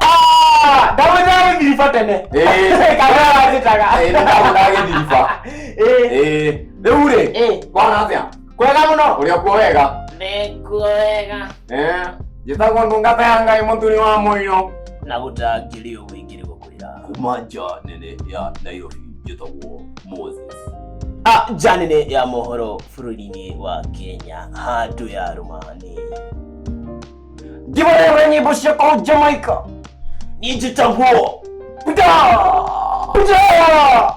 Ah, ndagũthaĩ ndiribũ tene Ĩĩ. kana wajĩtaga Ĩĩ, nĩndagũthaĩ ndiribũ. Ĩĩ, rĩu rĩ Ĩĩ. kwana atĩa kwega mũno ũrĩa kuo wega nĩkuwega Eh, njĩtagwo ndungata ya ngai mũthuri wa mũiyo na gũtangĩrĩ ũguo Yeah. kuma nja nene ya nairobi njĩtagwo moses Ah, nja nene ya mohoro bũrũri-inĩ wa kenya handũ ya rũmani ndivorewe nyĩmbo cia kũu jamaica niĩ njĩtagwo Buda! Buda!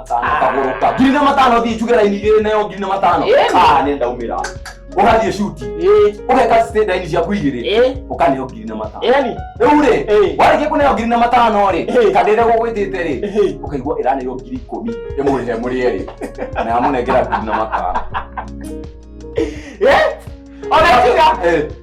matano kagũrũka ngiri na matano thiĩ njuge raini igĩrĩ nayo ngiri na matano Ĩĩ. Ah, nĩ ndaumĩra ũgathiĩ cuti Eh, ũgeka state raini ciaku igĩrĩ eh, ũkaneo ngiri na matano yani, rĩu rĩ Ĩĩ. warĩkia kũneo ngiri na matano rĩ Ĩĩ. kana ĩrĩa gũgwĩtĩte rĩ Ĩĩ. ũkaigua ĩranĩrwo ngiri ikũmi ĩmwe he mũrĩ erĩ na yamũnengera ngiri na matano eh, ona tiga, Eh,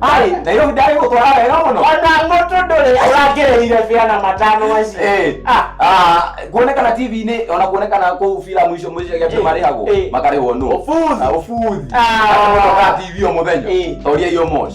Ai, na ilo ndari gutwara wega muno ona mũtũ ndũrĩ ũrangĩrĩire biana matano macio Eh. Ah. Ah, kuonekana tv-inĩ ona kuonekana kũu filamu icio mũicio gĩatĩ Eh. marĩhagwo Eh. makarĩhwo nũ Ũbuthi. Ah, ũbuthi Ah. Ati mũtokaa tv o mũthenya Eh. toria iyo mosh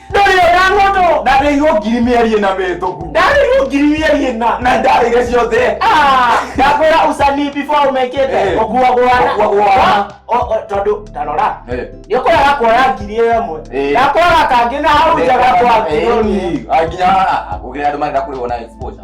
ndũrĩ ona mũndũ ndarĩirwo ngiri mĩeri ĩna mĩhĩtũku ndarĩirwo ngiri mĩeri ĩna na ndarĩire ciothe ah, ndakwĩra ucani before ũmekĩte eh. ũkuagũana tondũ tarora eh. nĩ ũkũraga kuoya ngiri ĩyo ĩmwe eh. ndakwara kangĩ na hau njaga kwa nginya kũgĩa andũ marenda kũrĩwo na exposure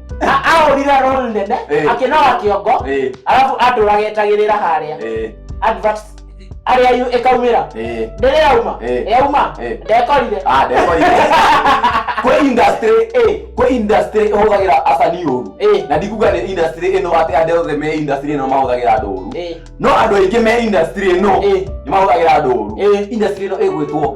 A- ahũrire rol nene Eh. akĩnoga kĩongo Eh, arabu andũ agetagĩrĩra harĩa eh, advert arĩa yu- ĩkaumĩra eh. ndĩrĩ yauma Eh. yauma Eh. ndekorire Ah, ndekorire. kwĩ industry Eh. kwĩ industry ĩhũthagĩra acani ũru Eh. na ndikuga nĩ industry ĩno atĩ andũ othe me industry ĩno mahũthagĩra andũ ũru Eh. no andũ aingĩ me industry ĩno Eh. nĩ mahũthagĩra andũ ũru Eh. industry ĩno ĩgwĩtwo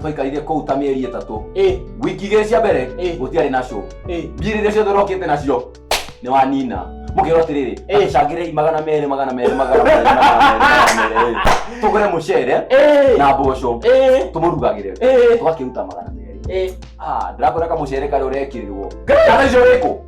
twaikarire kũu ta mĩeri ĩtatũ ĩ wiki igĩrĩ cia mbere Ĩ. gũtiarĩ na show ĩ mbia rĩrĩa ciothe ũrokĩte nacio nĩ wanina mũkĩrwo atĩrĩrĩ Ĩ. acangĩrei magana merĩ magana merĩ magana merĩ magana merĩ, magana merĩ ĩ. tũgũre mũcere ĩ na mboco ĩ tũmũrugagĩre ĩ tũgakĩruta magana merĩ ĩ Ah, ndĩrakũreka mũcere karĩa ũrekĩrĩrwo kana icio wĩkũ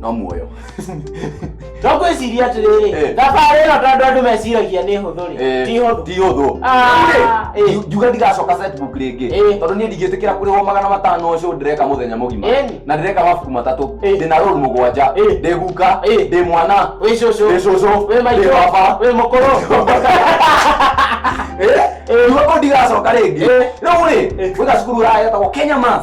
no muoyo twakwĩciria atĩrĩrĩ Eh. thabarĩ ĩno tondũ andũ meciragia nĩ hũthũ rĩ Eh, ti hũthũ ti hũthũ Ah, Eh, eh. njuga ndigacoka setbook rĩngĩ Eh. tondũ niĩ ndingĩtĩkĩra kũrĩhwo magana matano ũcio ndĩreka mũthenya mũgima Eh. na ndĩreka mabuku matatũ Eh. ndĩna rũru mũgwanja Eh. ndĩ guka Eh. ndĩ mwana wĩ cũcũ Wĩ cũcũ, wĩ wĩ maitũ baba. wĩ mũkũrũ njuga kũ ndigacoka rĩngĩ Eh. rĩu rĩ Eh. gwĩka cukuru ũraya getagwo kenya mas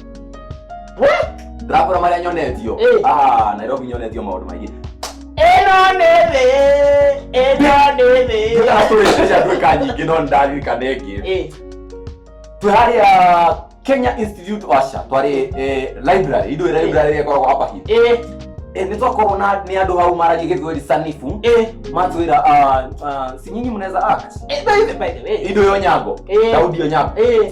ndakora maria nyonetio Eh. Ah, nairobi nyonetio maundu maingi ĩno nĩ thĩ ĩno nĩ thĩ tũratũrĩte andũ ĩka nyingĩ no nĩndaririkana ĩngĩ Eh, twĩ harĩa kenya institute washa twarĩ eh, library ithuĩ library ĩrĩa ĩkoragwo hapa hivi eh, Eh, nĩ twakorwo na nĩ andũ hau maragia gĩthweri sanifu eh. matwĩra ah, ah, si nyinyi mnaweza act Eh, by the- by the way. indo yo nyango Eh. daudi yo nyango Eh,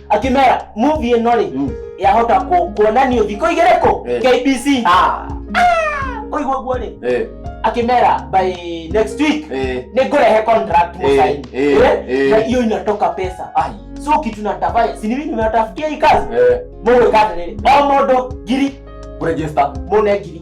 akĩmera movie ĩno rĩ Mm. yahota kũ- kuonanio thikũ igĩrĩ kũ Eh. kbc Ah, ũigua ũguo rĩ eh, akĩmera by next week eh, nĩ ngũrehe contract Eh, mũsaini eh, Eh? eh. na hiyo inatoka pesa ai, so kitu natafanya sinivi nimewatafutia hii kazi eh, mũgwĩka atĩrĩrĩ o mũndũ ngiri kũregister. mũne ngiri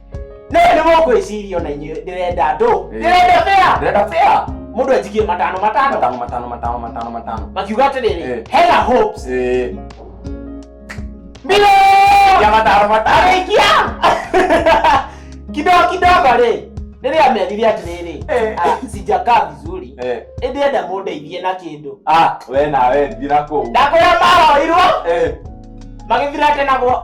nä nä må kwä ciria ona inyuä ndä renda ndå ndä Eh. renda bea Ndĩrenda fair. må ndå enjigie matano matano Matano, matano, matano, matano, matano. makiuga atä rä Eh. rä hena hopes Eh, mbio ya matano, matano. arĩkia kidogo kidogo rĩ rĩrĩa amerire atĩrĩrĩ Eh. "Ah, sijakaa vizuri Eh, ĩndĩ enda mũndeithie na kĩndũ ah, we nawe thira kũu. ndakwĩra mahoirwo Eh, magĩthira tena gwa-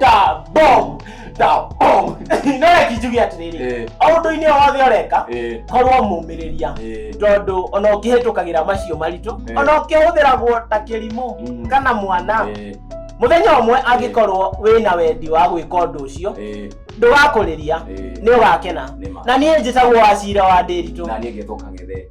da bo da bo no reki njuge atiriri Eh, aundu-ini wothe ureka eh, korwo mumiriria eh. tondu ona ukihitukagira macio maritu Eh. ona ukihuthiragwo ta kirimu Mm. kana mwana Eh, muthenya umwe angikorwo wina wendi wa gwika undu ucio eh, ndugakuriria eh. ni ugakena Nĩ ma. na niĩ njĩtagwo wacira wa ndĩritũ Na niĩ ngĩthũka ng'ethe.